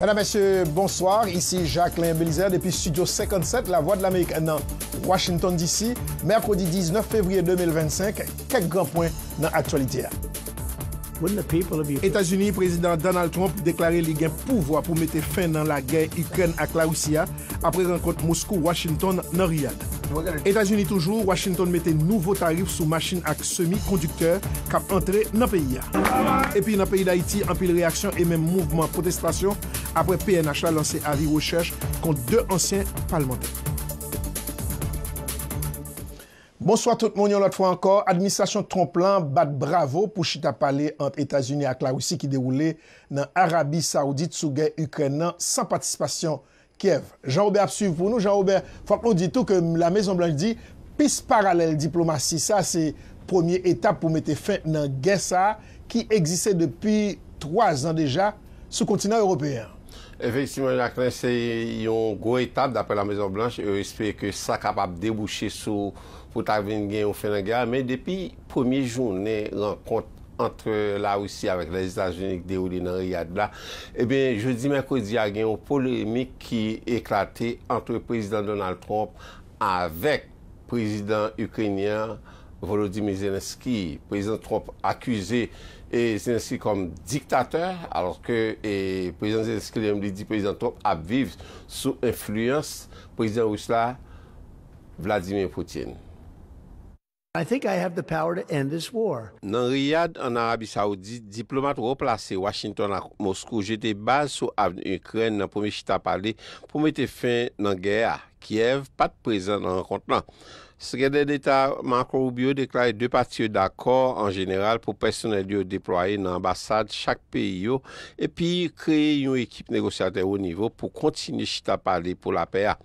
Madame, Messieurs, bonsoir. Ici Jacquelin Belizaire depi studio 57 La Voix de l'Amérique nan Washington DC. Mercredi 19 Fevrier 2025, kèk gran pwen nan aktyalite a. Etazini, Prezidan Donald Trump deklare li gen pouvwa pou mete fen nan lagè Ikrèn ak Larisi a. apre rankont Moskou Washington nan Riyad. Etazini toujou, Washington mete nouvo tarif sou machin ak semi kondiktè kap antre nan peyi a. Epi nan peyi Dayiti anpil reyaksyon e menm mouvman pwotestasyon apre pnh la lanse avi rechèch kont 2 ansyen palmantè. Bonswa tout moun yon lòt fwa ankò, administrasyon Trump lan bat bravo pou chita pale ant Etazini ak Larisi ki dewoule nan Arabi Saoudit sou gè Ikrèn nan san patisipasyon Kyèv. Jean Robert ap swiv pou nou. Jean Robert, fòk nou di tou ke La Mezon Blanch di pis paralèl diplomasi sa se premye etap pou mete fen nan gè sa ki egziste depi 3 zan deja sou kontinan Ewopeyen an. Efektivman Jacquelin, se yon gwo etap daprè La Mezon Blanch. Yo espere ke sa kapab debouche sou pou ta vin gen yon fen nan gè a. Men depi premye jounen rankont ant Larisi avèk Lèzetazini ki dewoule nan Riyad la, ebyen jodi mèkredi a gen yon polemik ki eklate ant Prezidan Donald Trump avèk Prezidan Ikrenyen an Volodymyr Zelensky. Prezidan Trump akize Zelensky kòm diktatè, alòske Prezidan Zelensky li menm li di Prezidan Trump ap viv sou enfliyans Prezidan Ris la Vladimir Putin. I think I have the power to end this war. Nan Riyad, an Arabi Saoudit, diplomat wo plase Washington ak Moskou jete baz sou avni Ikrèn nan premye chita pale pou mete fen nan gè a. Kyèv pa t prezan nan rankont lan. Sekretè Deta Marco Rubio deklare 2 pati yo dakò an jeneral pou pèsonèl yo deplwaye nan anbasad chak peyi yo epi kreye yon ekip negosyatè wo nivo pou kontinye chita pale pou lapè a.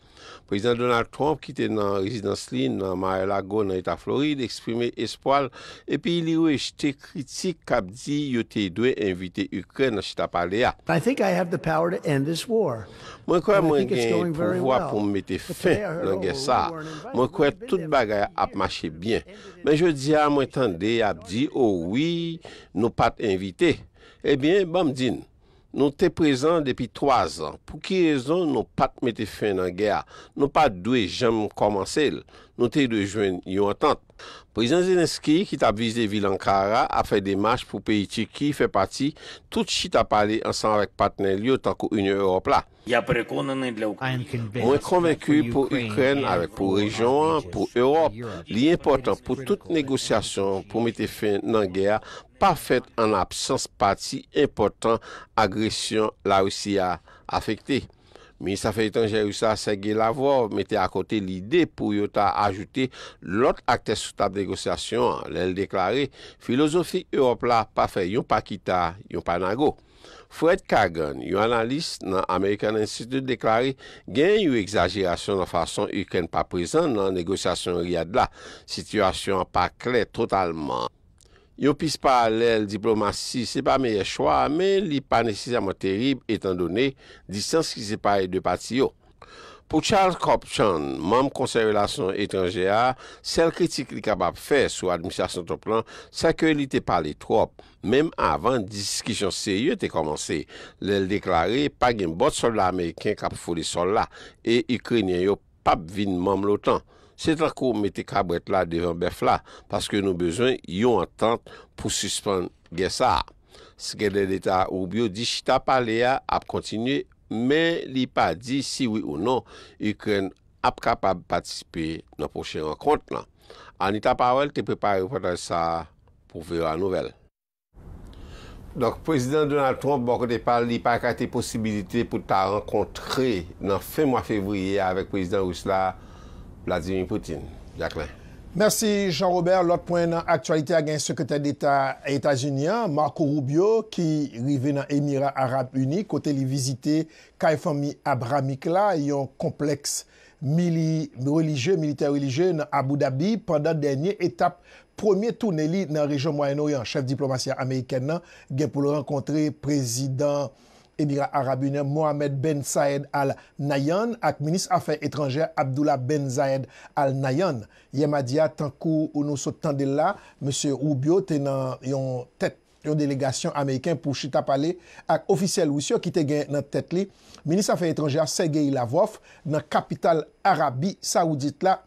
Prezidan Donald Trump ki te nan rezidans li nan Mar-a-Lago nan eta Florid eksprime espwa l epi li rejte kritik kap di yo te dwe envite Ikrèn nan chita pale a. Mwen kwè mwen gen pouvwa pou m mete fen nan gè sa a. Mwen kwè tout bagay ap mache byen. Men jodi a mwen tande y ap di o wi nou pat envite. Ebyen banm di n. Nou te prezan depi 3 zan. Pou ki rezon nou pa t mete fen nan gè a? Nou pa t dwe janm kòmanse l. Nou te dwe jwenn yon antant. Prezidan Zelenskyy ki t ap vize vil Ankara ap fè demach pou peyi Tiki fè pati tout chita pale ansanm avèk patnè l yo tankou Inyon Ewòp la. Mwen konvenki pou Ikrèn avèk pou rejyon an, pou Ewòp, li enpòtan pou tout negosyasyon pou mete fen nan gè a pa fèt an absans pati enpòtan agresyon Larisi a afekte. Minis Afè Etranjè Ris la, Sergei Lavrov, mete akote lide pou yo ta ajoute lòt aktè sou tab negosyasyon an lè l deklare, Filozofi Ewòp la pa fè yon pa kita, yon pa nago. Fred Kagan, yon analis nan American Institute deklare genyen yon egzajerasyon nan fason Ikrèn pa prezan nan negosyasyon Riyad la. Sitiyasyon an pa klè totalman. Yon pis paralèl diplomasi se pa meyè chwa a, men li pa nesesèman terib etandone distans ki separe 2 pati yo. Pou Charles Copchan, manm Konsèy Relasyon Etranjè a, sèl kritik li kapab fè sou administrasyon Trump lan, sè ke li te pale twòp, menm avan diskisyon serye te kòmanse, lè l deklare pa gen bòt sòlda ameriken k ap foule sòl la, e Ikrenyen yo p ap vin manm l'OTAN. Se tankou mete kabrèt la devan bèf la, paske nou bezwen yon antant pou sispann gè sa a. Sekretè Deta Rubio di chita pale a ap kontinye, men li pa di si wi ou non Ikrèn ap kapab patisipe nan pwochen rankont lan. Anita Powell te prepare repòtaj sa a pou voa Nouvelles. Donk Prezidan Donald Trump bò kote pa l li pa ekate posibilite pou l ta rankontre nan fen mwa fevriye a avèk Prezidan Ris la Vladimir Putin. Jacquelin. Mèsi Jean Robert, lòt pwen nan aktyalite a gen Sekretè Deta Etazini an, Marco Rubio ki rive nan Emira Arab Ini kote li vizite kay fanmi Abrahamic la, yon konplèks mili relijye, militè relijye nan Abu Dhabi pandan dènye etap premye toune li nan rejyon Mwayen Oryan. Chèf diplomasi a amerikèn nan gen pou l rankontre Prezidan Emira Arab Inè Mohammed Ben Sayed Al Nahyan ak Minis Afè Etranjè Abdullah Ben Zayed Al Nahyan yè madi a tankou nou sot tande l la Mesye Rubio te nan yon tèt yon delegasyon ameriken pou chita pale ak ofisyèl Ris yo ki te gen nan tèt li Minis Afè Etranjè a Sergei Lavrov nan kapital Arabi Saoudit la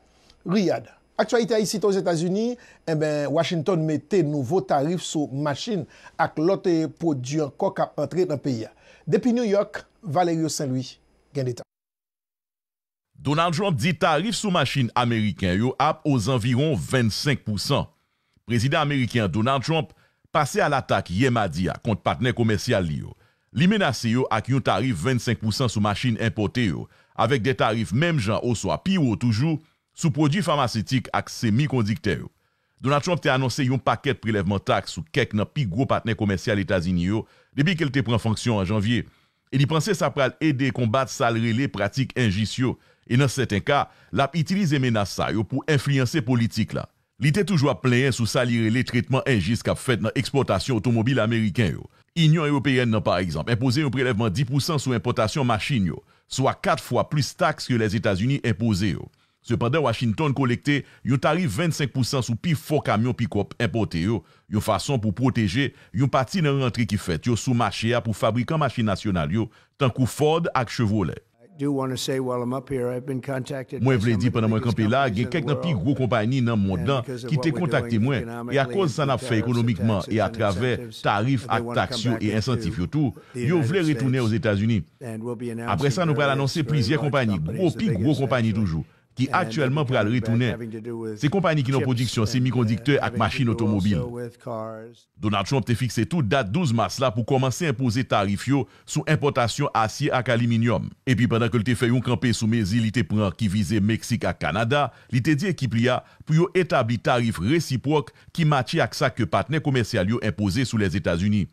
Riyadh. Aktyalite Ayisite Ozetazini, Enben Washington mete nouvo tarif sou machin ak lòt pwodui ankò k ap antre nan peyi a. Depi New York, Valerio Saint Louis gen detay. Donald Trump di tarif sou machin ameriken yo ap ozanviwon 25 pousan. Prezidan ameriken an Donald Trump pase a latak yè madi a kont patnè komèsyal li yo. Li menase yo ak yon tarif 25 pousan sou machin enpòte yo, avèk de tarif menm jan oswa pi wo toujou sou pwodui famasitik ak semi kondiktè yo. Donald Trump te anonse yon pakèt prelèvman taks sou kèk nan pi gwo patnè komèsyal Etazini yo depi ke l te pran fonksyon an Janvye, e li panse sa pral ede konbat sa l rele pratik enjis yo, e nan sèten ka, l ap itilize menas sa yo pou enfliyanse politik la. Li te toujou ap plenyen sou sa li rele tretman enjis k ap fèt nan ekspòtasyon otomobil ameriken yo. Inyon Ewopeyèn nan, pa egzanp, enpoze yon prelèvman 10 pousan sou enpòtasyon machin yo, swa kat fwa plis taks ke Lèzetazini enpoze yo. Sepandan, Washington kolekte yon tarif 25 pousan sou pi fò kamyon pikòp enpòte yo, yon fason pou pwoteje yon pati nan rantre ki fèt yo sou mache a pou fabrikan machin nasyonal yo, tankou Ford ak Chevrolet. Mwen vle di pandan mwen kanpe la, gen kèk nan pi gwo konpani nan mond lan ki te kontakte mwen, e akòz sa n ap fè ekonomikman e atravè tarif ak taks yo e ensantif yo tou, yo vle retounen Ozetazini. Apre sa nou pral anonse plizyè konpani, gwo, pi gwo konpani toujou, ki aktyèlman pral retounen se konpani ki nan pwodiksyon semikondiktè ak machin otomobil. Donald Trump te fikse tou dat 12 mas la pou kòmanse enpoze tarif yo sou enpòtasyon asye ak aliminyòm. Epi pandan ke l te fè yon kanpe sou mezi li te pran ki vize Meksik ak Kanada, li te di ekip li a pou yo etabli tarif resipwòk ki matche ak sa ke patnè komèsyal yo enpoze sou Lèzetazini.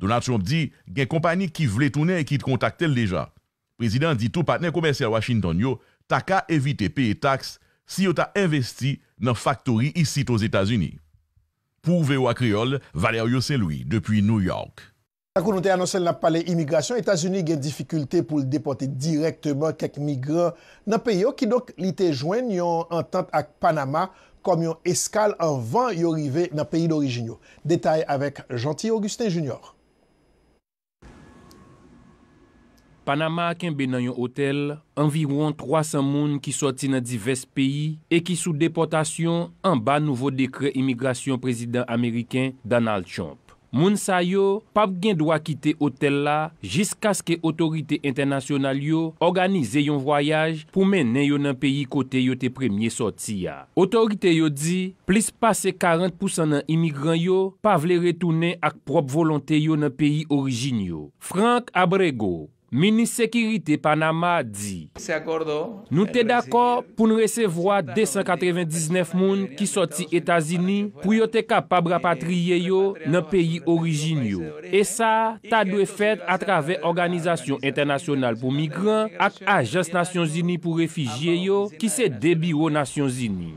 Donald Trump di gen konpani ki vle tounen e ki kontakte l deja. Prezidan an di tou patnè komèsyal Washington yo ta ka evite peye taks si yo ta envesti nan faktori isit Ozetazini. Pou voa Kreyòl, Valerio Saint Louis depi New York. Tankou nou te anonse l n ap pale imigrasyon, Etazini gen difikilte pou l depòte dirèkteman kèk migran nan peyi yo, kidonk li te jwenn yon antant ak Panama kòm yon eskal anvan yo rive nan peyi dorijin yo. Detay avèk Jeanty Augustin Junior. Panama kenbe nan yon otèl anviwon 300 moun ki sòti nan divès peyi e ki sou depòtasyon anba nouvo dekrè imigrasyon Prezidan Ameriken Donald Trump. Moun sa yo p ap gen dwa kite otèl la jiskaske otorite entènasyonal yo òganize yon vwayaj pou mennen yo nan peyi kote yo te premye sòti a. Otorite yo di plis pase 40 pousan nan imigran yo pa vle retounen ak pwòp volonte yo nan peyi orijin yo. Frank Abrego, Minis Sekirite Panama di. Nou te dakò pou n resevwa 299 moun ki sòti Etazini pou yo te kapab rapatriye yo nan peyi orijin yo, e sa ta dwe fèt atravè Òganizasyon Entènasyonal pou Migran ak Ajans Nasyonzini pou Refijye yo, ki se de biwo Nasyonzini.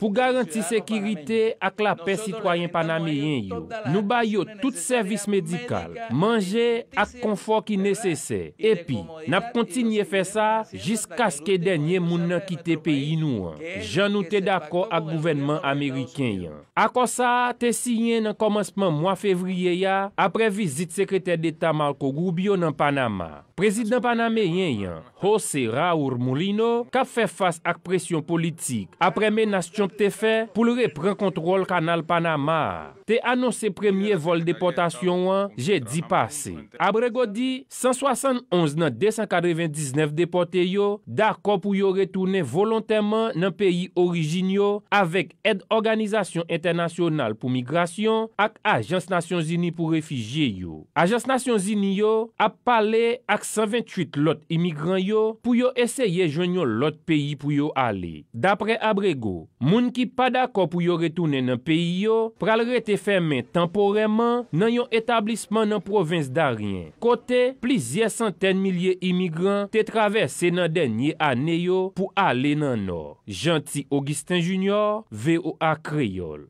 Pou garanti sekirite ak lapè sitwayen panameyen yo, nou bay yo tout sèvis medikal, manje ak konfò ki nesesè, epi n ap kontinye fè sa jiskaske dènye moun nan kite peyi nou an, jan nou te dakò ak gouvènman ameriken an. Akò sa a te siyen nan kòmansman mwa fevriye a apre vizit Sekretè Deta Marco Rubio nan Panama. Prezidan panameyen an, Jose Raur Mulino k ap fè fas ak presyon politik aprè menas Trump te fè pou l repran kontwòl Kanal Panama a, te anonse premye vòl depòtasyon an jedi pase. Abrego di 171 nan 299 depòte yo dakò pou yo retounen volontèman nan peyi orijin yo avèk Èd Òganizasyon Entènasyonal pou Migrasyon ak Ajans Nasyonzini pou Refijye yo. Ajans Nasyonzini yo ap pale ak 128 lòt imigran yo pou yo eseye jwenn yon lòt peyi pou yo ale. Daprè Abrego, moun ki pa dakò pou yo retounen nan peyi yo pral rete fèmen tanporèman nan yon etablisman nan pwovens Darien, kote plizyè santèn milye imigran te travèse nan dènye ane yo pou ale nan nò. Jeanty Augustin Junior, voa Kreyòl.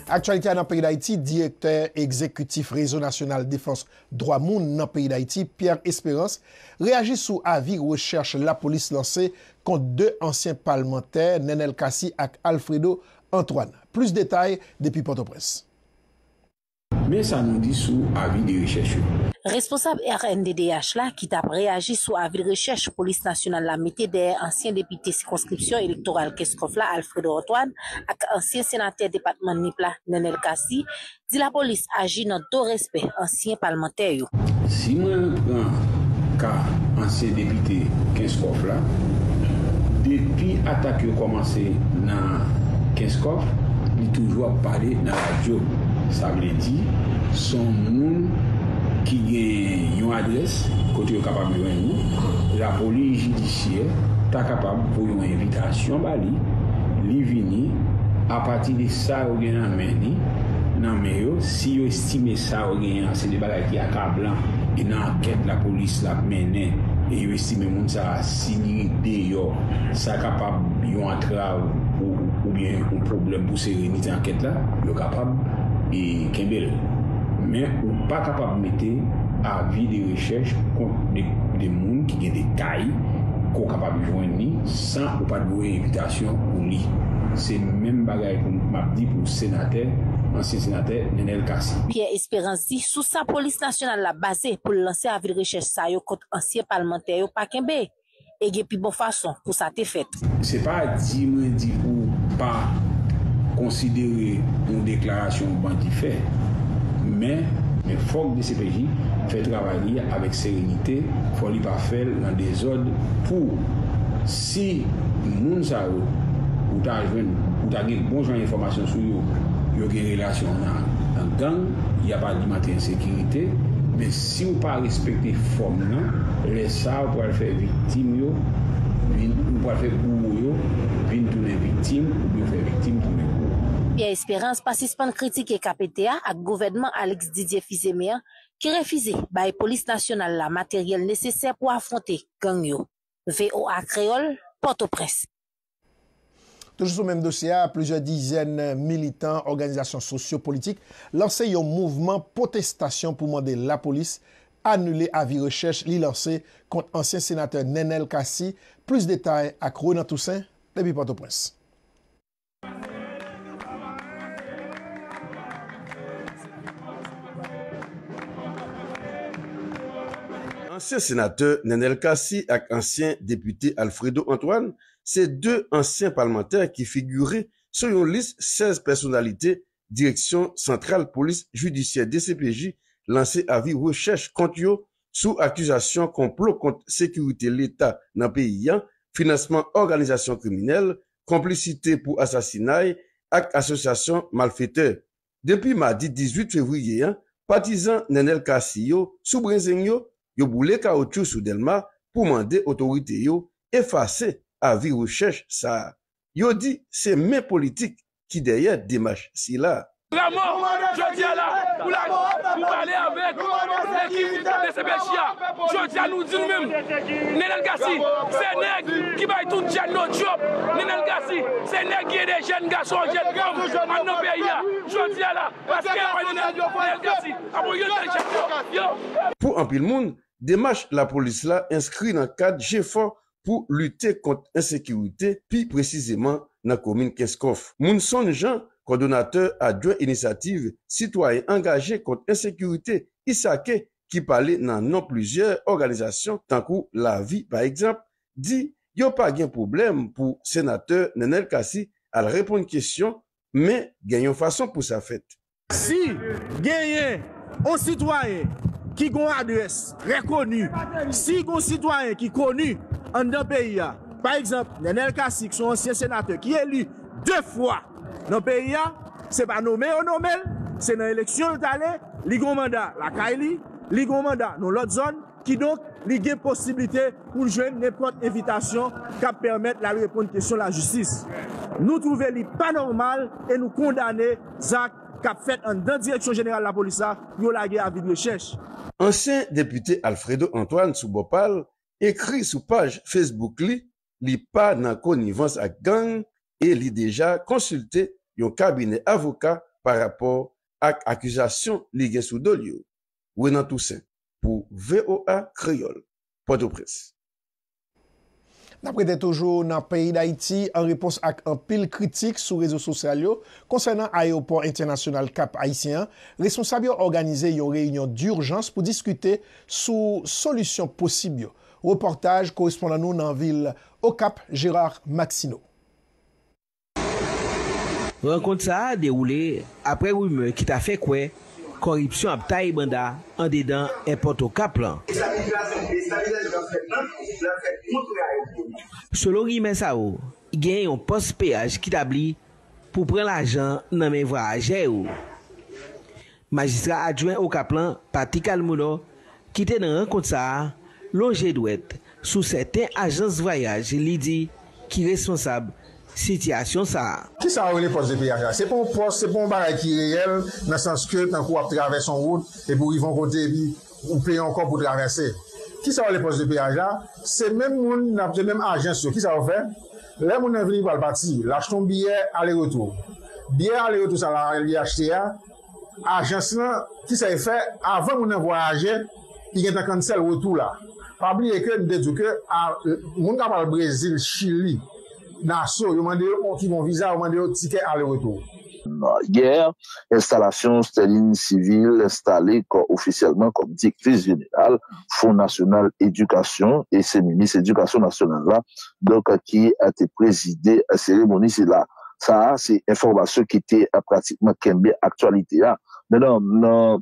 Aktyalite a nan peyi Dayiti, Direktè egzekitif Rezo Nasyonal Defans Dwa Moun nan peyi Dayiti, Pierre Espérance, reyaji sou avi rechèch lapolis lanse kont 2 ansyen palmantè, Nenel Cassy ak Alfredo Antoine. Plis detay depi Pòtoprens. Men sa nou di sou avi de rechèch yo. Responsab rnddh la ki tap reyaji sou avi de rechèch polis nasyonal la mete dèyè ansyen depite sikonskripsyon elektoral Kenskòf la Alfredo Antoine ak ansyen senatè depatman Nip la Nenel Cassy, di lapolis aji nan do respè ansyen palmantè yo. Si mwen repran ka ansyen depite Kenskòf la, depi atak yo kòmanse nan Kenskòf, li toujou ap pale nan radyo. Sa vle di, s on moun ki gen yon adrès kote yo kapab jwenn li. Lapolis jidisyè ta kapab voye yon envitasyon ba li, li vini, apati de sa yo gen nan men li, nan men yo, si yo. Time sa yo genyen an se de bagay ki akablan e nan ankèt lapolis la ap mennen e yo estime moun sa a si li ret deyò sa kapab yon antrav pou oubyen yon pwoblèm pou serenite ankèt la yo kapab e kenbe l men ou pa kapab mete avi de rechèch pou kont de moun ki gen detay ke w kapab jwenn li san ou pat voye envitasyon pou li se menm bagay pou m ap di pou senatè ansyen senatè. Mèt Nenel Cassy. Pierre Espérance di sou sa polis nasyonal la baze pou l lanse avi de rechèch sa yo kont ansyen palmantè yo pa kenbe, e gen pi bon fason pou sa te fèt. Se pa di mwen di pou w pa konsidere yon deklarasyon yon bandi fè, men. Men fòk dcpj fè travay li avèk serenite, fò li pa fè l nan dezòd pou. Si moun sa yo ou ta jwenn ou ta gen bon jan enfòmasyon sou yo, yo gen relasyon nan gang, y ap alimante ensekirite, men si ou pa respekte fòm nan, lè sa a ou pral fè viktim yo vin, ou pral fè bouwo yo vin tounen viktim oubyen fè viktim tounen bouwo. Pierre Espérance pa sispann kritike KPT a ak gouvènman Alix Didier Fils-Aimé an ki refize bay polis nasyonal la materyèl nesesè pou afwonte gang yo. voa Kreyòl, Pòtoprens. Toujou sou menm dosye a, plizyè dizèn militan òganizasyon sosyo politik lanse yon mouvman pwotestasyon pou mande lapolis anile avi rechèch li lanse kont ansyen senatè Nenel Cassy, plis detay ak Renan Toussaint depi Pòtoprens. Ansyen senatè Nenel Cassy ak ansyen depite Alfredo Antoine se 2 ansyen palmantè ki figure sou yon lis 16 pèsonalite Direksyon Santral Polis Jidisyè, dcpj, lanse avi rechèch kont yo sou akizasyon konplo kont sekirite leta nan peyi an, finansman òganizasyon kriminèl konplisite pou asasinay ak asosyasyon malfetè. Depi madi 18 fevriye an, patizan Nenel Cassy yo sou brezeng yo, yo boule kawoutchou sou Dèlma pou mande otorite yo efase avi rechèch sa a. Yo di se men politik ki dèyè demach sila. Lamò, jodi a la, pou la, pou pale avèk lekip dcpj a, jodi a nou di nou menm, Nenel Cassy se nèg ki bay tout jèn yo djòb, Nenel Cassy se nèg ki ede jèn gason, jèn fanm ann nan peyi a, jodi a la, paske yo wè Nenel Cassy ap oryante jèn yo, yo. Pou anpil moun, demach lapolis la enskri nan kad jefò pou lite kont ensekirite, pi presizeman nan komin Kenskòf. Munson Jean, kòdonatè adjwen Inisyativ Sitwayen Angaje kont Ensekirite, ISAKE, ki pale nan non plizyè òganizasyon tankou Lavi pa egzanp, di yo pa gen pwoblèm pou senatè Nenel Cassy al reponn kesyon men gen yon fason pou sa fèt. Si genyen yon sitwayen ki gen yon adrès trè koni, si gen yon sitwayen ki koni anndan peyi a, pa egzanp, Nenel Cassy ki se yon ansyen senatè ki eli de fwa nan peyi a, se pa nome yo nome l, se nan eleksyon l t ale, li gen yon manda lakay li, li gen yon manda nan yon lòt zòn, Kidonk, li gen posiblite pou l jwenn nenpòt envitasyon k ap pèmèt l al reponn kesyon lajistis. Nou twouve li pa nòmal e nou kondane zak k ap fèt anndan Direksyon Jeneral Lapolis la pou yo lage avi de rechèch. Ansyen depite Alfredo Antoine sou bò pa l ekri sou paj Facebook li li pa nan konivans ak gang e li deja konsilte yon kabinè avoka pa rapò ak akizasyon li gen sou do l yo. Renan Toussaint. pou voa Kreyol, Potoprens. N ap rete toujou nan peyi Dayiti an repons ak anpil kritik sou rezo sosyal yo konsènan ayewopò entenasyonal Kap Ayisyen an, responsab yo òganize yon reyinyon durjans pou diskite sou solisyon posib yo. Repòtaj korespondan nou nan vil Okap, Gérard Maxineau. Rankont sa a dewoule aprè rimè ki ta fè kwè kòripsyon ap taye banda andedan èpòt Okap lan. Selon rimè sa yo, gen yon pòs peyaj ki tabli pou pran lajan nan men vwayajè yo. Majistra adjwen Okap lan, Paty Calmuno, ki te nan rankont sa a, lonje dwèt sou sèten ajans vwayaj li di ki responsab sitiyasyon sa a. Kisa yo rele pòs de peyaj la? Se pa yon pòs, se pa yon bagay ki reyèl nan sans ke tankou wap travèse yon wout epi ou rive yon kote epi ou peye yon kòb pou travèse. Kisa yo rele pòs de peyaj la? Se menm moun nan, se menm ajans yo, kisa yo fè? Lè moun nan vini pral pati, l achte yon biyè ale retou. Biyè ale retou sa l al li achte a, Ajans lan, ki sa e fè avan moun nan vwayaje, li gentan cancel retou la. Pa bliye ke nou te diw ke moun kap al Brezil, Chili, Naso, yo mande yo ki bon viza, yo mande yo tikè ale retou. Gè, enstalasyon Sterling Civil enstale kò ofisyèlman kòm direktris jeneral Fon Nasyonal Edikasyon e se minis edikasyon nasyonal la donk ki te prezide seremoni sila. Sa a se enfòmasyon ki te pratikman kenbe aktyalite a. Mennan,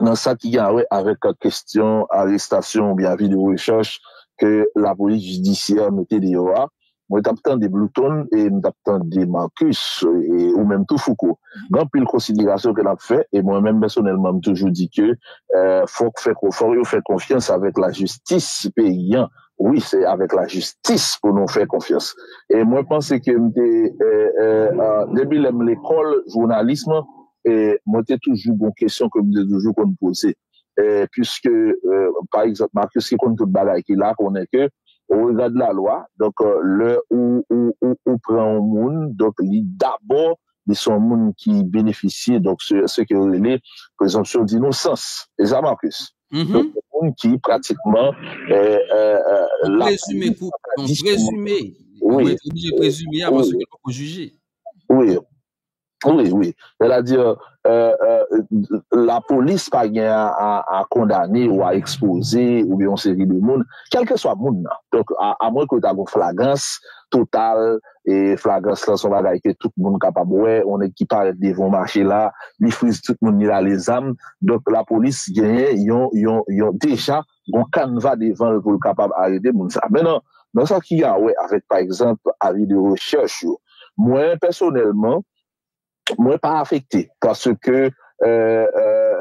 nan sa ki gen awè avèk kestyon arestasyon oubyen avi de rechèch ke lapolis jidisyè mete deyò a, mwen t ap tande Bluton e m t ap tande Marcus e ou menm tou Fouco, gen anpil konsiderasyon ke n ap fè e mwen menm pèsonèlman m toujou di ke fòk yo fè konfyans avèk lajistis peyi an Wi se avek la jistis pou nou fè konfyans e mwen panse ke m te depi lè m lekòl jounalism mwen te toujou gon kesyon ke m te toujou konn poze puiske pa egzanp Marcus ki konn tout bagay ki la konnen ke o rega de la lwa donk lè ou pran yon moun donk li dabò li se yon moun ki benefisye donk se ke yo rele prezonpsyon dinosans se sa Marcus donk yon moun ki pratikman yon prezime yon prezime wi wi wi wi sè ta di la polis pa gen a kondane ou a ekspoze ou yon seri de moun kelke swa moun nan donk a mwen ke ta gon flagans total e flagrans lan son bagay ke tout moun kapab wè, yon nèg ki parèt devan yon mache la, li friz tout moun, li rale zam, donk lapolis genyen yon, yon, yon, deja gon kanva devan l pou l kapab arete moun sa. Mennan, nan sa ki a wè avèk pa egzanp avi de rechèch yo, mwen pèsonèlman, mwen pa afekte, paske,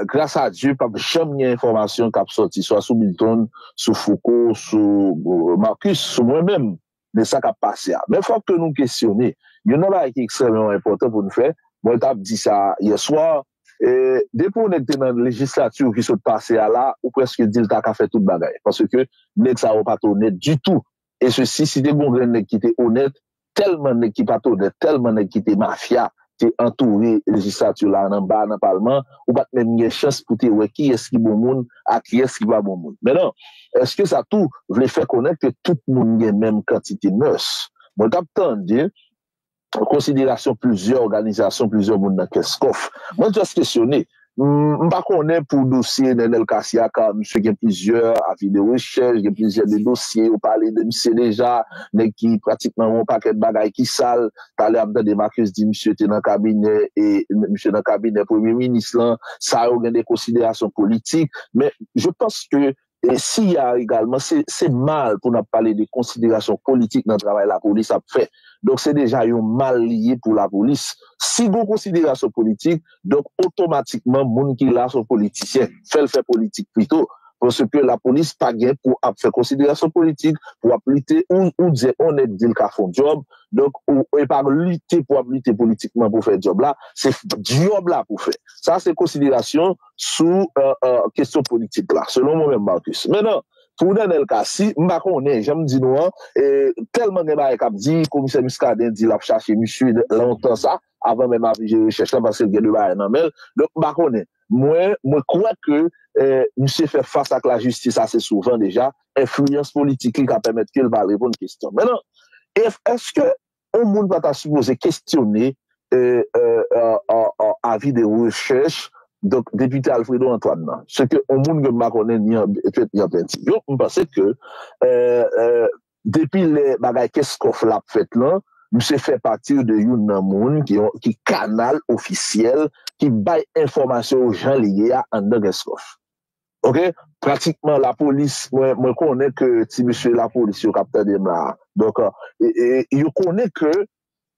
gras a Dye, pap janm gen enfòmasyon kap sòti swa sou Milton, sou Fouco, sou Marcus, sou mwen menm, de sa k ap pase a. Men fòk ke nou kesyone, youn nan bagay ki ekstrèmeman enpòtan pou n fè, mwen t ap di sa yèswa, depi yon nèg te nan lejislatur ki sot pase a la, ou prèske di l ta ka fè tout bagay, paske nèg sa yo pa t onèt ditou, e sesi, si te gen yon grenn nèg ki te onèt, tèlman nèg ki pa t onèt, tèlman nèg ki te mafya, te antoure lejislati la an anba nan palman, ou pa t menm gen chans pou te wè kiyès ki bon moun ak kiyès ki pa bon moun. Men non, èske sa tou vle fè konnen ke tout moun gen menm kantite mès? Mwen t ap tande konsiderasyon plizyè òganizasyon, plizyè moun nan Kèskòf. Mwen jis kesyone, M pa konnen pou dosye Nenel Cassy a ka misye gen plizyè avi de rechèch, gen plizyè de dosye yo pale de misye deja, nèg ki pratikman yon pakèt bagay ki sal. Talè m tande Marcus di misye te nan kabinè e misye nan kabinè premye minis lan. Sa yo gen de konsiderasyon politik men je panske Siya a egalman, se mal pou n ap pale de konsiderasyon politik nan travay lapolis ap fè. Donk se deja yon mal li ye pou lapolis. Si gen yon konsiderasyon politik, donk otomatikman moun ki la se yon politisyen. Fè l fè politik pito. Paske lapolis pa gen pou ap fè konsiderasyon politik pou ap lite. Ou di yon nèg di l ka fè yon djòb, donk e pa lite pou ap lite politikman pou fè djòb la. Se djòb la pou fè. Sa se konsiderasyon. sou kestyon politik la, selon mwen menm Marcus. Menan, pou Nenel Cassy, m pa konnen, jan m di nou an, tèlman gen bagay k ap di, komisè Muscadin di l ap chache misye lontan sa, avan menm avi je rechèch la, paske l gen de bagay nan men l, donk m pa konnen. Mwen, mwen kwè ke misye fè fas ak lajistis ase souvan deja, enfliyans politik li ka pèmèt ke l pa reponn kestyon. Menan, èske On moun pa ta sipoze kestyone avi de rechèch donk Depite Alfredo Antoine nan. Se ke on moun ke m pa konnen ni an fèt ni an penti. Yo, m panse ke depi lè bagay Keskòf la ap fèt lan, misye fè pati de youn nan moun ki kanal ofisyèl ki bay enfòmasyon yo jan li ye a anndan Keskòf. Ok pratikman lapolis mwen konnen ke ti mesye lapolis yo kap tande m la donk yo konnen ke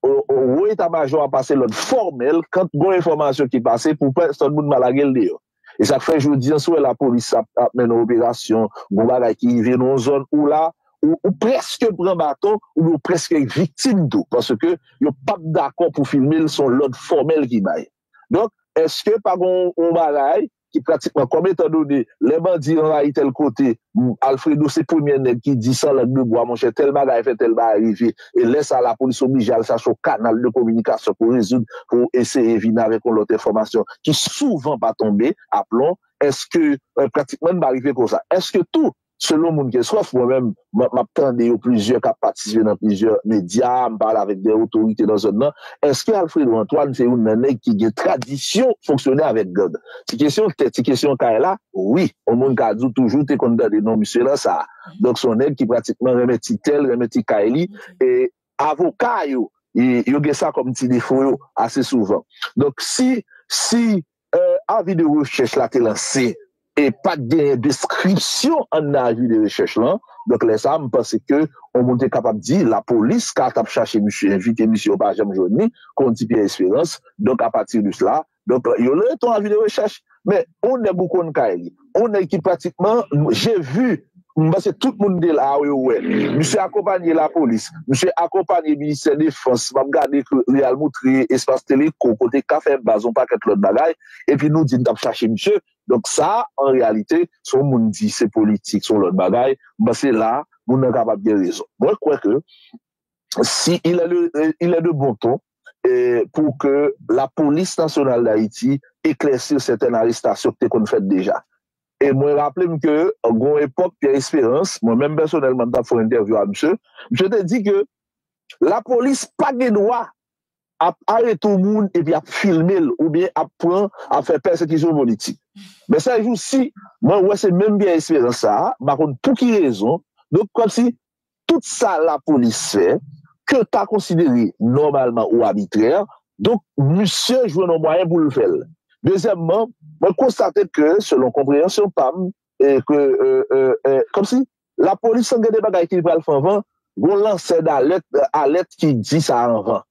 wo eta majò a pase lòd fòmèl kant gon enfòmasyon ki pase pou pèsòn moun pa lage l deyò e sak fè jodi an si w wè lapolis ap mennen operasyon gon bagay ki rive nan yon zòn ou la ou prèske pran baton oubyen ou prèske viktim tou paske yo pap dakò pou filme l son lòd fòmèl ki bay donk eske pa gon yon bagay ki pratikman kòm etan done lè bandi anvayi tèl kote Alfredo se premyè nèg ki di san lang de bwa monchè tèl bagay fè tèl bagay rive e lè sa lapolis oblije al chache yon kanal de kominikasyon pou rezoud pou eseye vini avèk yon lòt enfòmasyon ki souvan pa tonbe aplon èske pratikman n pa rive konsa èske tou Selon moun Kenskòf, mwen menm, m ap tande yo plizyè k ap patisipe nan plizyè medya, m pale avèk de otorite nan zòn nan, èske Alfredo Antoine se youn nan nèg ki gen tradisyon fonksyone avèk gang? Ti kesyon tè, ti kesyon kay la, wi, yon moun ka di w toujou te konn tande non misye nan sa. Donk se yon nèg ki pratikman renmen ti tè l, renmen ti kay li e. avoka yo yo gen sa kòm ti defo yo ase souvan donk si si avi de rechèch la te lanse e pat genyen deskripsyon anndan avi de rechèch lan donk lè sa m panse ke yon moun te kapab di lapolis ka tap chache misye envite misye yo pa janm jwenn li kon di Pierre Espérance donk apati de sla Donk yo lè ton avi de rechèch men on nèg ou konn kay li, on nèg ki pratikman je vu, m panse tout moun te la yo wè misye akonpanye lapolis, misye akonpanye ministè defans, m ap gade ke li al moutre espas teleko kote yo ka fè baz, on pakèt lòt bagay, epi nou di n t ap chache misye, donk sa an reyalite si on moun di se politik se on lòt bagay, m panse la moun nan kapab gen rezon. Mwen kwè ke si il est de bon ton pou ke lapolis nasyonal Dayiti eklèsir sètèn arestasyon ki te konn fèt deja. E mwen raple m ke gon epòk Pyè Esperans, mwen menm pèsonèlman m t ap fè yon entèvyou a misye, misye te di ke lapolis pa gen dwa ap arete yon moun epi ap filme l oubyen ap pran, ap fè pèsekisyon politik. Men sèjousi, mwen wè se menm Pyè Esperans sa a, m pa konn pou ki rezon, donk kòmsi Tout sa lapolis fè, ke w ta konsidere nòmalman ou abitrè, donk misye jwenn yon mwayen pou l fè l. Dezyèmman, mwen konstate ke, selon konpreyansyon pa m, ke, kòmsi, lapolis lan gen de bagay ki li pral fè anvan, gen yon lansè dalèt, alèt ki di sa anvan.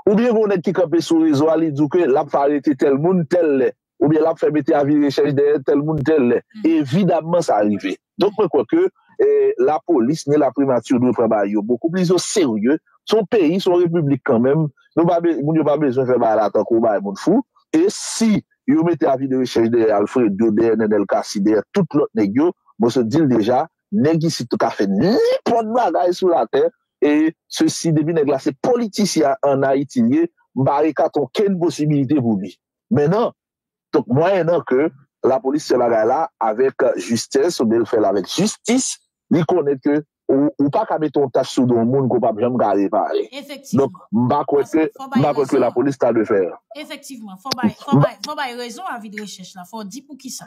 Oubyen gen yon nèg ki kanpe sou rezo a, li di w ke l ap fè arete tèl moun, tèl lè. oubyen lap fè mete avi rechèch dèyè tèl moun tèl lè. Evidamman sa rive. Donk mwen kwè ke lapolis ni laprimati dwe pran bagay yo bokou plis o serye. Se yon peyi, se yon repiblik kanmenm. Nou pa be, moun yo pa bezwen fè bagay la tankou bagay moun fou. E si yo mete avi de rechèch dèyè Alfredo, dèyè Nenel Cassy, dèyè tout lòt nèg yo, mwen sot di l deja, nèg isit yo ka fè nenpòt bagay sou latè. E sesi depi nèg la se politisyen an Ayiti l ye, m pa rekate okenn posibilite pou li. men nan donk mwayen nan ke la polis fè bagay la avèk jistès oubyen l fè l avèk jistis li konnen ke ou pa ka mete yon tach sou do yon moun ke w pap janm ka repare donk m pa kwè ke m pa kwè ke la polis ta dwe fè. Efektivman fò w bay rezon avi de rechèch la fò w di poukisa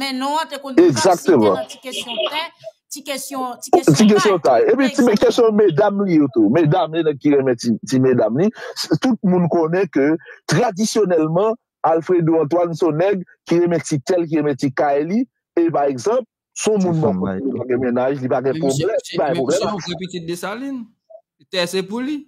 Men non an te konn pran site nan ti kesyon tè, ti kesyon kay. Epi ti kesyon medam li yo tou. Medam li, nèg ki renmen ti medam li. Tout moun konnen ke tradisyonèlman, Alfredo Antoine son nèg ki renmen ti tè l, ki renmen ti kay li. E pa egzanp, son moun bon kote li pa gen mennaj, li pa gen pwoblèm. Misye mwen kwe pitit Dessalines. Tè se pou li.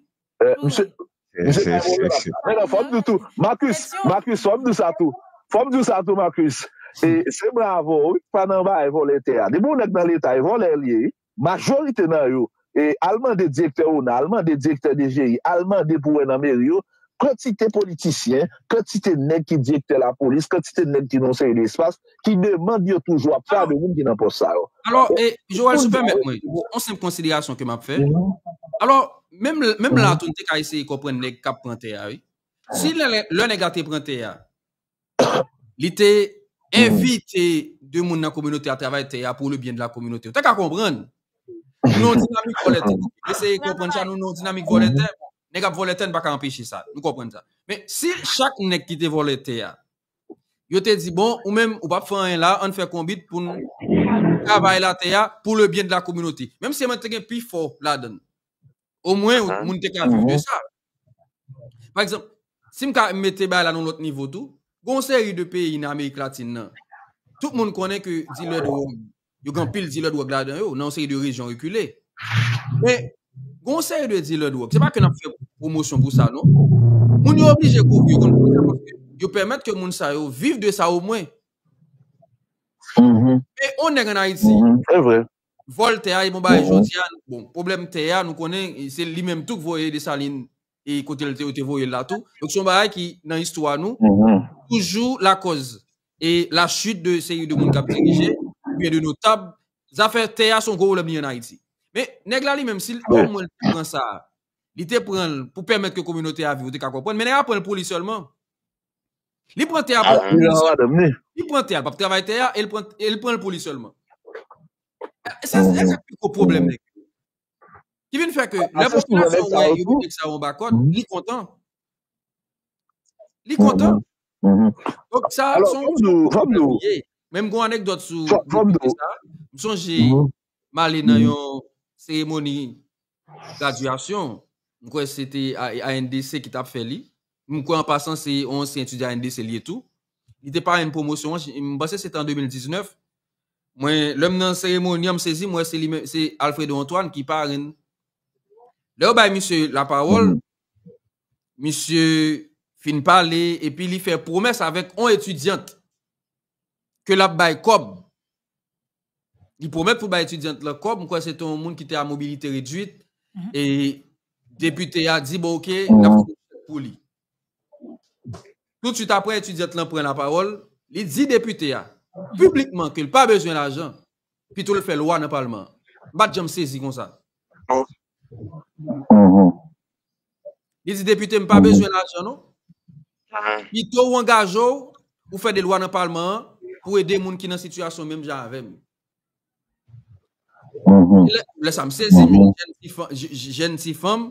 Misye bay bon remak sa. Men non, fò m di w tou, Marcus, Marcus, fò m di w sa tou, fò m di w sa tou Marcus, e se bravo wi, pa nan bagay vòlè tè a. Depi yon nèg nan leta, e vòlè li ye wi. Majorite nan yo, e al mande direktè ona, al mande direktè DGI, al mande pou wè nan meri yo, kantite politisyen, kantite nèg ki direktè lapolis, kantite nèg ki nan yon seri de espas, ki demand yo toujou ap fè a de moun ki nan pòs sa yo. Alò, Joel, si w pèmèt mwen, yon senp konsiderasyon ke m ap fè. Alò, menm la tou, nou te ka eseye konprann nèg k ap pran tè a, wi. Si lè nèg la te pran tè a, li te envite de moun nan kominote a travay tè a pou le byen de la kominote. Ou ta ka konprann. Nou nan yon dinamik vòlè tè. Eseye konprann sa, nou nan yon dinamik vòlè tè. Nèg ap vòlè tè, nou pa ka anpeche sa. Nou konprann sa. Men, si chak nèg ki te vòlè tè a, yo te di bon ou menm ou pap fè anyen la an fè konbit pou nou travay la tè ya pou le byen de la kominote menm se mwen te gen pi fò la dan o mwen moun te ka viv de sa pa egzanp si m ka mete bay la nou lòt nivo tou gon seri de peyi nan amerik latin nan tout moun konnen ke di lè do Yo gen anpil dilè dwòg ladan yo, nan yon seri de rejyon rekile. Men, gen yon seri de dilè dwòg, se pa ke n ap fè pwomosyon pou sa non, moun yo oblije kouvri yo kont pwoblèm paske yo pèmèt ke moun sa yo viv de sa omwen. Men, yon nèg ann Ayiti, vòl tè a, e bon bagay jodi a, bon, pwoblèm tè a, nou konnen, se li menm tou ki voye Dessalines e kote l te yo te voye l la tou. Donk se yon bagay ki nan istwa nou toujou lakòz e la chit de seri de moun k ap dirije ou byen de notab. Zafè tè a se yon gwo pwoblèm li an Ayiti. Men, nèg la li menm si l o mwen l te pran sa, li te pran l pou pèmèt ke kominote a viv ou te ka konprann. Men nèg la pran l pou li sèlman. Li pran tè a pou li sèlman. Li pran tè a, li pap travay tè a e li pran l pou li sèlman. Se sa ki pi gwo pwoblèm nèg yo. Ki vin fè ke lè popilasyon wè yo mete Xavier anba kòd, li kontan. Li kontan. Donk sa a son pwoblèm li ye. Men m gen yon anekdòt sou depite sa a. M sonje m ale nan yon seremoni gradyasyon, m kwè se te ANDC ki t ap fè li, M kwè an pasan se yon ansyen etidyan NDC l ye tou. Li te parenn pwomosyon an, m panse se te an 2019. Mwen, lè m nan seremoni an, m sezi m wè se li menm, se Alfredo Antoine ki parenn. Lè yo bay misye lapawòl, misye fin pale epi li fè pwomès avèk yon etidyant ke l ap bay kòb Li pwomèt pou l bay etidyant lan kòb, m kwè se te yon moun ki te a mobilite redwit, e depite a di bon oke, l ap fè yon chèk pou li. Toutswit apre etidyant lan pran lapawòl, li di depite a, piblikman ke l pa bezwen lajan, pito l fè lwa nan palman an. M pa t janm sezi konsa. Li di depite m pa bezwen lajan non. Pito ou angaje w, ou fè de lwa nan palman an pou ede moun ki nan sitiyasyon menm jan avè m. Lè sa m sezi, m di jèn ti fanm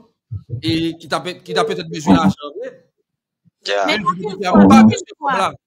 ki ta petèt bezwen lajan vre. Men m pa bezwen kòb la.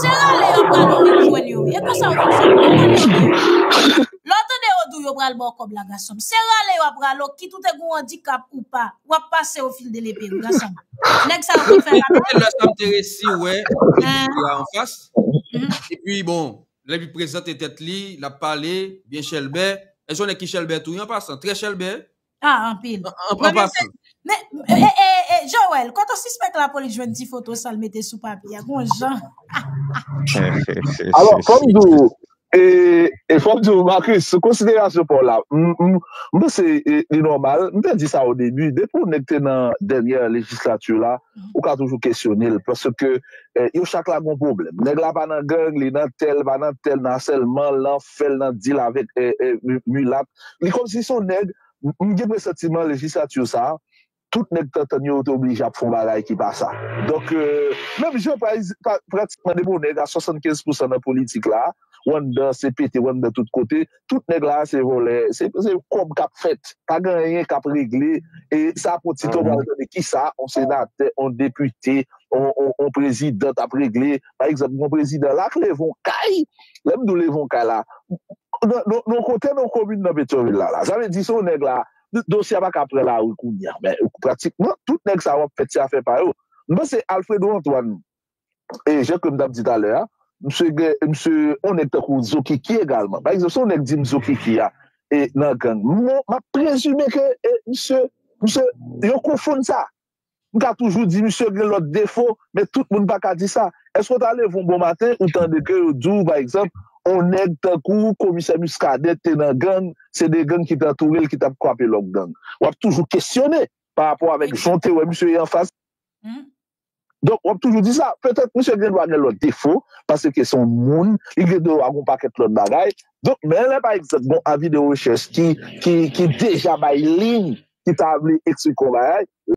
Se rale yo pral ou vin jwenn yo wi e konsa yo fè sa wi rale yo pral ou lè w tande yo di w yo pral ba w kòb la gason m se rale yo ap rale w kit ou te gen yon andikap ou pa w ap pase yo fil de lepe wi gason m nèg sa yo konn fè rale Premye lè sa m te resi wè depite a anfas epi bon lè li prezante tèt li l ap pale byen chèlbè èske w konnen ki chèlbè tou wi an pasan trè chèlbè Ah anpil. An pran Premye pas. Men, e, e, e, e, Joel, kote w sispèk lapolis jwenn ti foto sa l mete sou papye a? Gon jan. Alò, fò m di w, e, e fò m di w, Marcus, sou konsiderasyon pa w la, m, m, m panse e, li nòmal, m te di sa o debi, depi yon nèg te nan dènyè lejislati la, ou ka toujou kesyone l, paske e, yo chak la gon pwoblèm. Nèg la pa nan gang, li nan tèl, pa nan tèl, nan asèlman, nan fè l, nan di l avèk e, e, mi, milat, Li kòmsi se yon nèg, m gen presantiman legislature sa, tout nèg tantann yo, yo te oblije ap fè yon bagay ki pa sa. Donk, menm jan pratikman depi yon nèg a 75 pousan nan politik la, ou anndan se pete, ou anndan tout kote, tout nèg la se vòlè, se kòb k ap fèt, pa gen anyen k ap regle, e sa ap yon ti tan w pa al tande kisa yon senatè, yon depite, yon prezidan t ap regle. Pa egzanp, yon prezidan la k leve yon kay, lè m di w leve yon kay la, yon kote nan yon komin nan Petyonvil la la, sa vle di se yon nèg la, dosye a pa ka pran lari kounye a, men pratikman tout nèg sa yo ap fèt se afè pa yo. M panse Alfredo Antoine, e jan ke m t ap di talè a, msye gen, msye, yon nèg tankou Zokiki egalman. Pa egzanp, si yon nèg di m Zokiki a nan gang, m ap prezime ke msye, msye, yo konfonn sa. M ka toujou di misye gen lòt defo, men tout moun pa ka di sa. Èske w ta leve yon bon maten, ou tande ke yo di w, pa egzanp, yon nèg tankou komisè Muscadin te nan gang, se 2 gang ki te antoure l ki t ap kwape lòt gang? W ap toujou kesyone parapò avèk jan w te wè misye ye anfas. Donk, w ap toujou di sa. Petèt misye gen dwa gen lòt defo, paske se yon moun, li gen dwa gen yon pakèt lòt bagay. Donk, men lè, pa egzanp, gen yon avi de rechèch ki deja bay liy ki ta vle eksplike yon bagay,